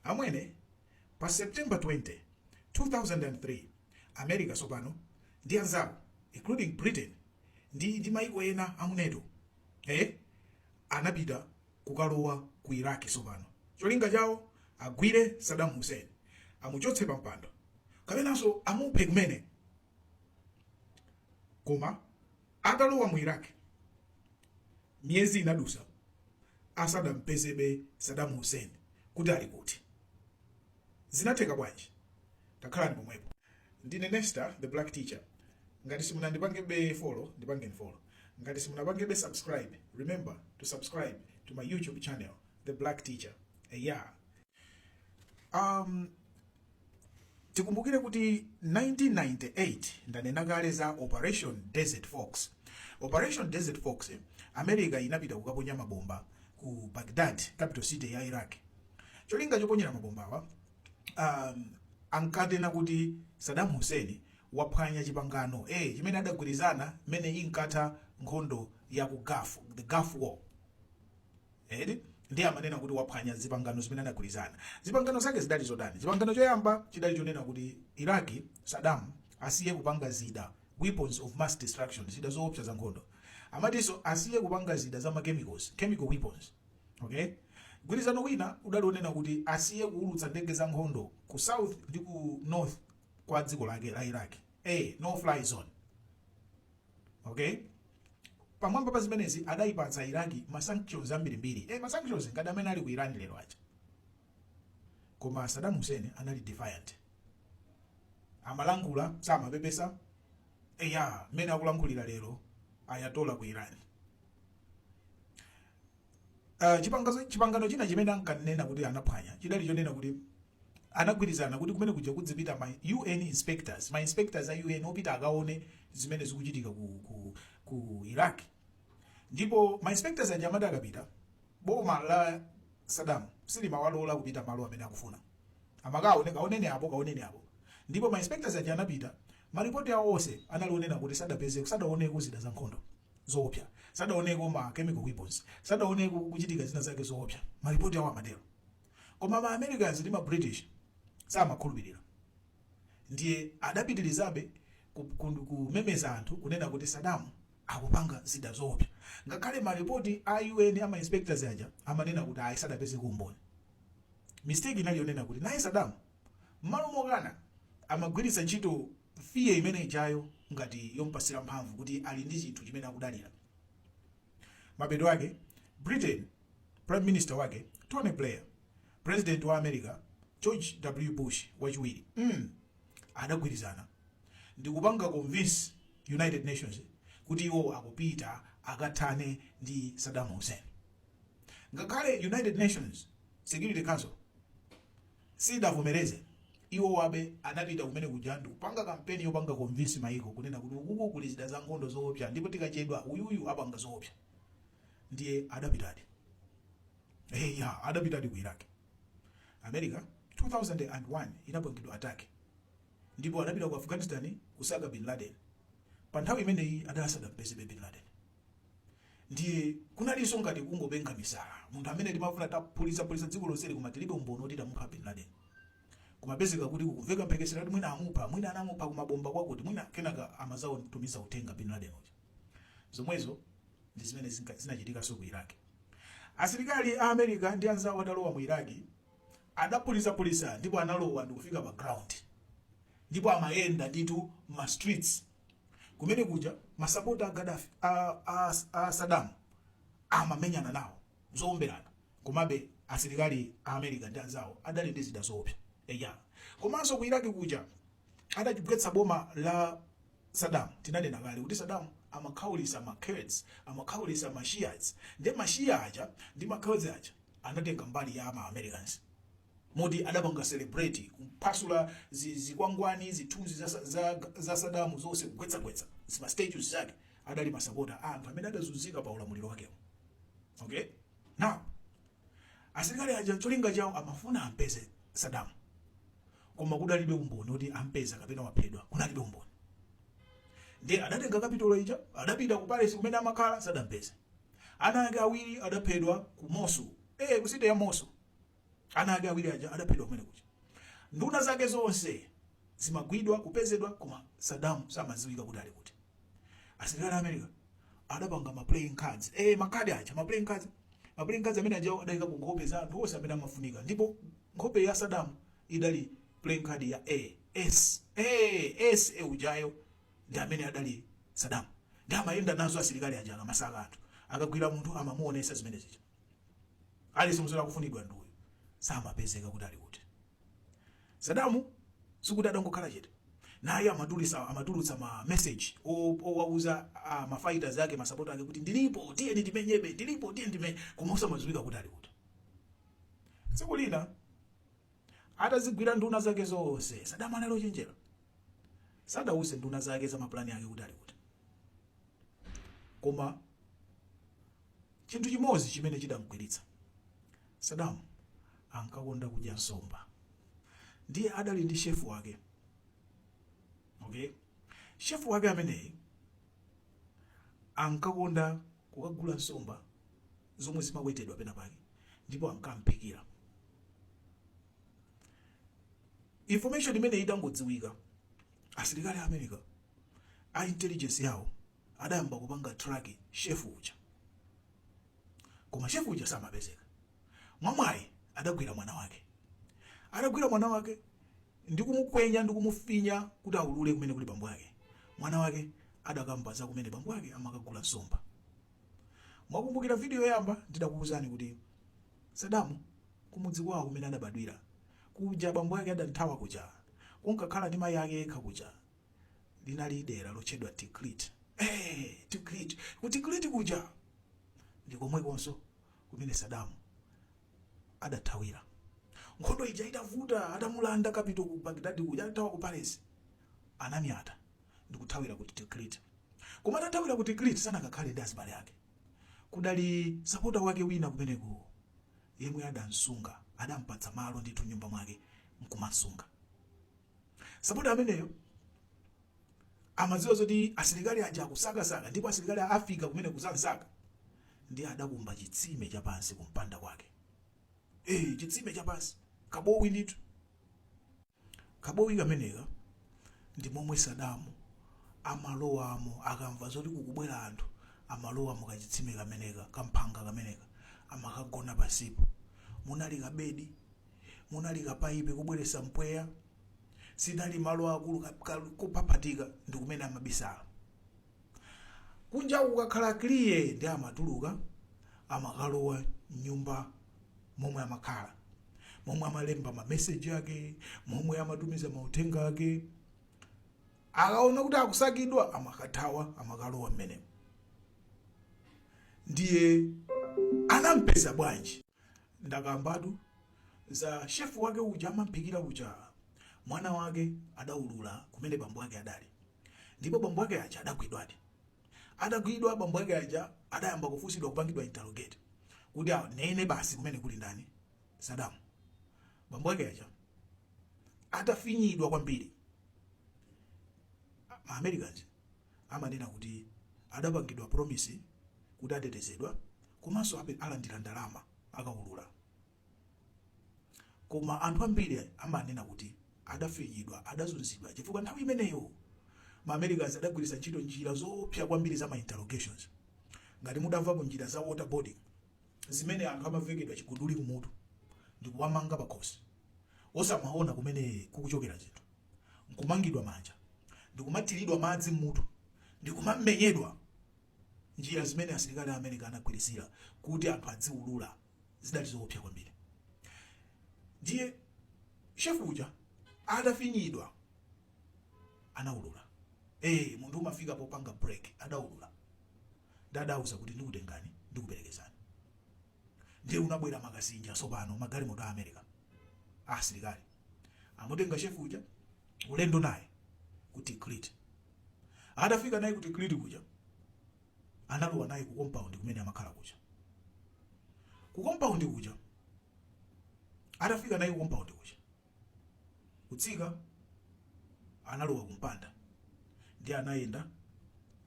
Amwene, pa September 20, 2003, America tsopano ndi anzawo including Britain ndi ndi maiko ena amu Nato eh, anapita kukalowa ku Iraq tsopano. Cholinga chawo agwire Saddam Hussein, amuchotse pampando kapenanso amuphe kumene. Koma atalowa mu Iraq, miyezi inadusa asadampezebe Saddam Hussein kuti ali kuti. Zinatheka bwanji? Takhalani pomwepo. Ndine Nesta the Black Teacher. Ngati simunandipangebe follow, ndipangeni follow. Ngati simunapangebe subscribe, remember to subscribe to my YouTube channel, The Black Teacher. Eya. Um, tikumbukire kuti 1998 ndanena kale za operation desert fox operation desert fox eh, america inapita kukaponya mabomba ku baghdad capital city ya iraq cholinga choponyera mabombawa um, ankanena kuti saddam hussein waphwanya chipangano eh, chimene adagwirizana mmene inkatha nkhondo ya ku gulf the gulf war eti ndiye amanena kuti waphwanya zipangano zimene anagwirizana zipangano zake zidali zotani chipangano choyamba chidali chonena kuti iraki sadamu asiye kupanga zida weapons of mass destruction zida zoopsa za nkhondo amatinso asiye kupanga zida za machemicals chemical weapons okay gwirizano wina udali wonena kuti asiye kuulutsa ndege za nkhondo ku south ndi ku north kwa dziko lake la iraq a no fly zone okay pamwamba pa zimenezi adayipatsa iraki ma sanctions ambirimbiri e ma sanctions ngati amene ali ku iran lero aja koma saddam hussein anali defiant amalankhula samapepesa eya mmene akulankhulira lero ayatola ku iran Uh, chipangazo- chipangano china chimene ankanena kuti anaphwanya chidali chonena kuti anagwirizana kuti kumene kuja kuzipita ma un inspectors ma inspectors a un apite akaone zimene zikuchitika ku, ku, ku iraq ndipo ma inspectors aja amati akapita boma la saddam silimawalola kupita malo amene akufuna amakaone kaoneni apo kaoneni apo ndipo ma inspectors aja anapita maripoti awo onse anali onena kuti sadapezeko sadaoneko zida za nkhondo zoopsa, sadaoneko ma chemical weapons, sadaoneko kuchitika zina zake zoopsa, ma report awo amatero. Koma ma Americans ndi ma British samakhulupirira. Ndiye adapitirizabe ku- ku- kumemeza anthu kunena kuti Saddam akupanga zida zoopsa. Ngakhale ma report a UN ama inspectors aja amanena kuti ayi sadapezeko umboni. Mistake inali yonena kuti naye Saddam M'malo mokana, amagwiritsa ntchito fear imene ijayo ngati yompatsira mphamvu kuti ali ndi chinthu chimene akudalira. Mapeto ake, Britain, Prime Minister wake, Tony Blair, Purezidenti wa America, George W. Bush Wachiwiri, mm, adagwirizana ndikupanga convince United Nations kuti iwowo akupita akathane ndi Saddam Hussein. Ngakhale United Nations Security Council. siidavomereze, iwobe anapita kumene kuja ndikupanga kampeni yopanga convince maiko kunena kuti ukuku kuli zida zankhondo zoopsa ndipo tikachedwa uyuyu apanga zoopsa ndiye adapitadi eya adapitadi ku Iraq America 2001 inapangidwa attack ndipo adapita ku Afghanistan kusaka Bin Laden panthawi imeneyi adali asadampezebe Bin Laden. ndiye kunalinso ngati kungopenga misala munthu amene timafuna taphulitsapulitsa dziko lonseli koma tilibe umboni oti tamupha bin laden kumapezeka kuti kukumveka mphekesera kuti mwina amupha mwina anamupha kumabomba kwakuti mwina kenaka amazatumiza uthenga bin laden uja zomwezo ndi zimene zinka- zinachitikanso ku iraki asilikali a america ndi anzawo atalowa mu iraki adaphulitsapulitsa ndipo analowa ndikufika pa ground ndipo amayenda nditu ma streets kumene kuja masapota a gadafi a, a, a sadamu amamenyana nawo zoomberana komabe asilikali a america ndi anzawo adali ndi zida zoopsa eya komanso ku iraki kuja adagwetsa boma la sadamu tinanena kale kuti sadamu amakhaulisa ma kurds amakhaulisa ma shias ndi ma shia aja ndi ma kurds aja anatenga mbali ya ma americans moti adapanga celebrate kuphwasula zi, zikwangwani zithunzi za, sa- za, za sadamu zonse kugwetsagwetsa zima statues zake adali masapota a anthu amene adazunzika pa ulamuliro wakewo okay now asilikali aja cholinga chawo amafuna ampeze sadamu koma kudalibe umboni kuti ampeza kapena waphedwa kunalibe umboni ndiye adatenga kapitolo ija adapita ku palesi kumene amakhala sadampeze Ana ake awiri adaphedwa ku Mosul eh ku city ya Mosul Ana ake awiri aja adaphedwa kumene kuja. Nduna zake zonse zimagwidwa, kupezedwa koma Saddam samadziwika kuti ali kuti. Asilikali a America adapanga ma playing cards. Eh, makadi aja, ma playing cards. Ma playing cards amene aja adaika ku nkhope za anthu onse amene amafunika. Ndipo nkhope ya Saddam idali playing card ya Ace. Eh, Ace ujayo ndi amene adali Saddam. Ndi amayenda nazo asilikali aja akamasaka anthu. Akagwira munthu amamuonesa zimene zija. aliyense nzoti akufunidwa ndi uyu samapezeka kuti ali kuti sadamu sikuti adangokhala chete naye amatulisa amatulutsa ma message o- owauza ah, ma fighters ake ma supporter ake kuti ndilipo tiyeni timenyebe ndilipo tiyeni timenye koma samadziwika kuti ali kuti tsiku lina atazigwira nduna zake zonse sadamu anali ochenjera sadawuze nduna zake za mapulani ake kuti ali kuti koma Chinthu chimodzi chimene chidamgwiritsa, Saddam ankakonda kudya nsomba. Ndiye adali ndi chef wake. Okay? Chef wake ameneyi ankakonda kukagula nsomba zomwe zimawedzedwa pena pake ndipo ankamphikira. Information imeneyi itangodziwika, asilikali a America a intelligence yawo adayamba kupanga track chef uja koma chef uja samapezeka mwamwayi adagwira mwana wake atagwira mwana wake ndikumukwenya ndikumufinya kuti aulule kumene kuli bambo ake mwana wake adakamba za kumene bambo ake amakagula nsomba mukukumbukira video yoyamba ndidakuwuzani kuti sadamu kumudzi kwawo kumene adabadwira kuja bambo ake adamthawa kuja ankakhala ndi mayi ake yekha uja linali dera lotchedwa tikrit hey, tikrit ku tikrit kuja ndi komwekonso kumene sadamu adathawira nkhondo ija itavuta atamulanda capital ku bagdadi kuja adathawa ku palace ananyamuka ndikuthawira ku tikrit koma atathawira ku tikrit sanakakhale ndi azibale ake kudali supporter wake wina kumeneko yemwe adamsunga adampatsa malo ndithu mnyumba mwake nkumamsunga Supporter ameneyo amadziwa zoti asilikali aja akusakasaka ndipo asilikali azafika kumeneko kuzamsaka nde adakumba chitsime chapansi kumpanda kwake eh chitsime chapansi kabowo ndithu kabowo kameneka ndi momwe sadamu amalowamo akamva zoti kukubwera anthu amalowamo kachitsime kameneka kamphanga kameneka amakagona pansipo munali kabedi munali kapaipi kobweretsa mpweya sinali malo aakulu ka- ka- kophaphatika ndi kumene amabisala kunja kukakhala clear nde amatuluka amakalowa mnyumba momwe amakhala momwe amalemba mameseji ake momwe amatumiza mauthenga ake akaona kuti akusakidwa amakathawa amakalowa mmenemo ndiye anampeza bwanji Ndakambatu za chef wake uja amamphikira kuja. Mwana wake adaulula kumene bambo ake adali. Ndipo bambo ake aja adagwidwadi. Atagwidwa bambo ake aja adayamba kufunsidwa kupangidwa interrogate kuti anene basi kumene kuli ndani Saddam. Bambo ake aja atafinyidwa kwambiri ma Americans amanena kuti adapangidwa promise kuti atetezedwa komanso alandira ndalama akaulula. Koma anthu ambiri amanena kuti adafinyidwa, adazunzidwa chifukwa nthawi imeneyo ma Americans adagwiritsa ntchito njira zoopsa kwambiri za ma interrogations. Ngati mudamvapo njira za waterboarding, zimene anthu amavekedwa chiguduli kumutu ndikuwamanga pakhosi osamaona kumene kukuchokera zinthu. nkumangidwa manja, ndi kumathiridwa madzi m'mutu, ndi kumamenyedwa. Njira zimene asilikali a America anagwiritsira kuti anthu adziulula zidali zoopsa kwambiri. Ndiye shefu uja atafinyidwa anaulula. Ee, munthu umafika popanga break, adaulula. Ndi adawauza kuti ndikutengani ndikuperekezani. ndiye kunabwera makasinja tsopano magalimoto a america a asilikali amutenga shefu uja ulendo naye ku tikrit atafika naye ku tikrit kuja analowa naye ku compound kumene amakhala kuja ku compound kuja atafika naye ku compound kuja kutsika, analowa ku mpanda, ndiye anayenda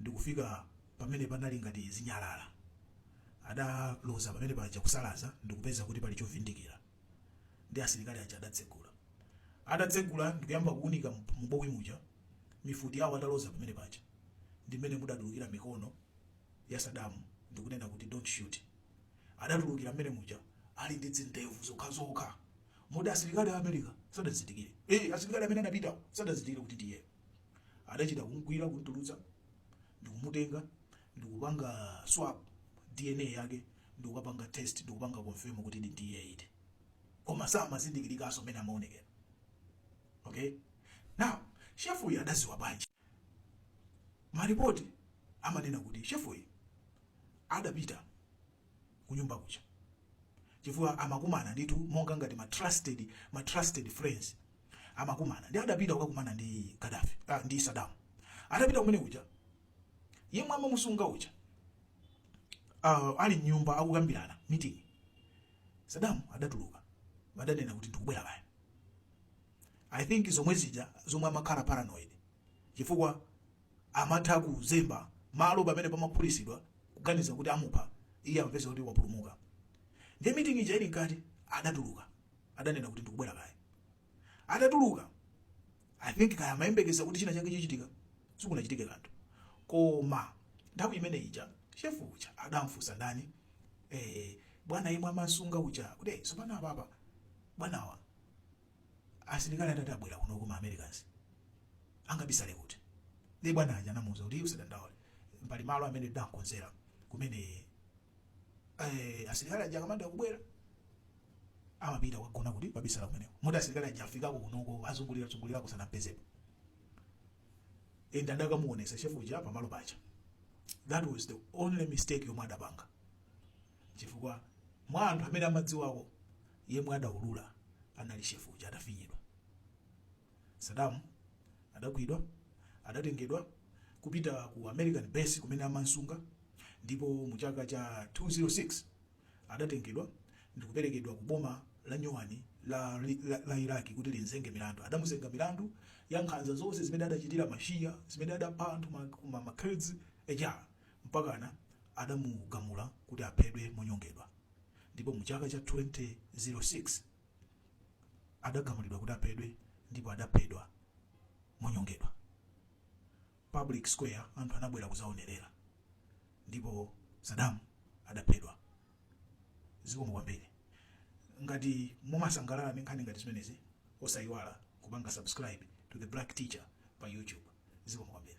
ndi kufika pamene panali ngati zinyalala. Adaloza pamene paja kusalaza ndi kupeza kuti pali chovindikira. Ndiye asilikali aja adatsegula. Atatsegula ndi kuyamba kuunika m'bowo muja, mifuti yao ataloza pamene paja, ndi m'mene mudatulukira mikono ya Sadamu ndi kunena kuti, Don't shoot. Adatulukira m'mene muja ali ndi dzindevu zokhazokha. Moti asilikali a America sadamzindikire. Ee, asilikali amene anapitawo sadazindikire kuti ndi iyeyo. Adachita kumgwira, kumtulutsa, ndikumutenga, ndikupanga swab DNA yake, ndikukapanga test, ndikupanga confirm kutidi ndi iyeyi. Koma samazindikirikanso mmene amaonekera. Okay? Now, chef uyu adadziwa bwanji? Maripoti amanena kuti chef uyu adapita kunyumba kuja chifukwa amakumana ndithu monga ngati ma trusted ma trusted friends amakumana ndi adapita kukakumana ndi Gaddafi ah, ndi Saddam adapita kumene kuja yemwe amamusunga uja uh, ali m'nyumba akukambirana meeting Saddam adatuluka adanena kuti ndikubwera baya I think zomwe zija zomwe amakhala paranoid chifukwa amatha kuzemba malo pamene pamaphulitsidwa kuganiza kuti amupha, iye amapeza kuti wapulumuka. Ndiye meeting ija ili mkati adatuluka, adanena kuti ndikubwera kaye. Atatuluka, I think kaya amayembekeza kuti china chake chichitika, sikunachitike kanthu. Koma nthawi imene ija chef uja adamfunsa ndani, eh, bwana yemwe amasunga uja kuti "Eh, tsopano apapa bwanawa Asilikali atati abwera kunoko ma Americans angabisale kuti? Ndiye bwana aja anamuuza kuti usadandaule pali malo amene tidamkonzera kumene eh, asilikali aja akamanda kubwera amapita kukagona kukabisala kumeneko moti asilikali aja afikako kunoko azungulira zungulirako sanampezepo and adakamuonesa shefu uja pamalo paja that was the only mistake yomwe adapanga chifukwa mwa anthu amene amadziwawo yemwe adaulula anali chef uja atafinyidwa. Saddam adagwidwa adatengedwa kupita ku American base kumene amamsunga ndipo mu chaka cha 206 adatengedwa ndikuperekedwa ku boma la nyuwani la, la, la Iraq kuti limzenge milandu. Adamuzenga milandu ya nkhanza zonse zimene adachitira ma Shia, zimene adapha anthu ma, ma, ma Kurds, eja. mpakana adamugamula kuti aphedwe monyongedwa ndipo mu chaka cha 2006 adagamulidwa kuti aphedwe ndipo adaphedwa monyongedwa public square anthu anabwera kuzaonerera ndipo Saddam adaphedwa zikomo kwambiri ngati mumasangalala ndi nkhani ngati zimenezi osayiwala kupanga subscribe to the black teacher pa youtube zikomo kwambiri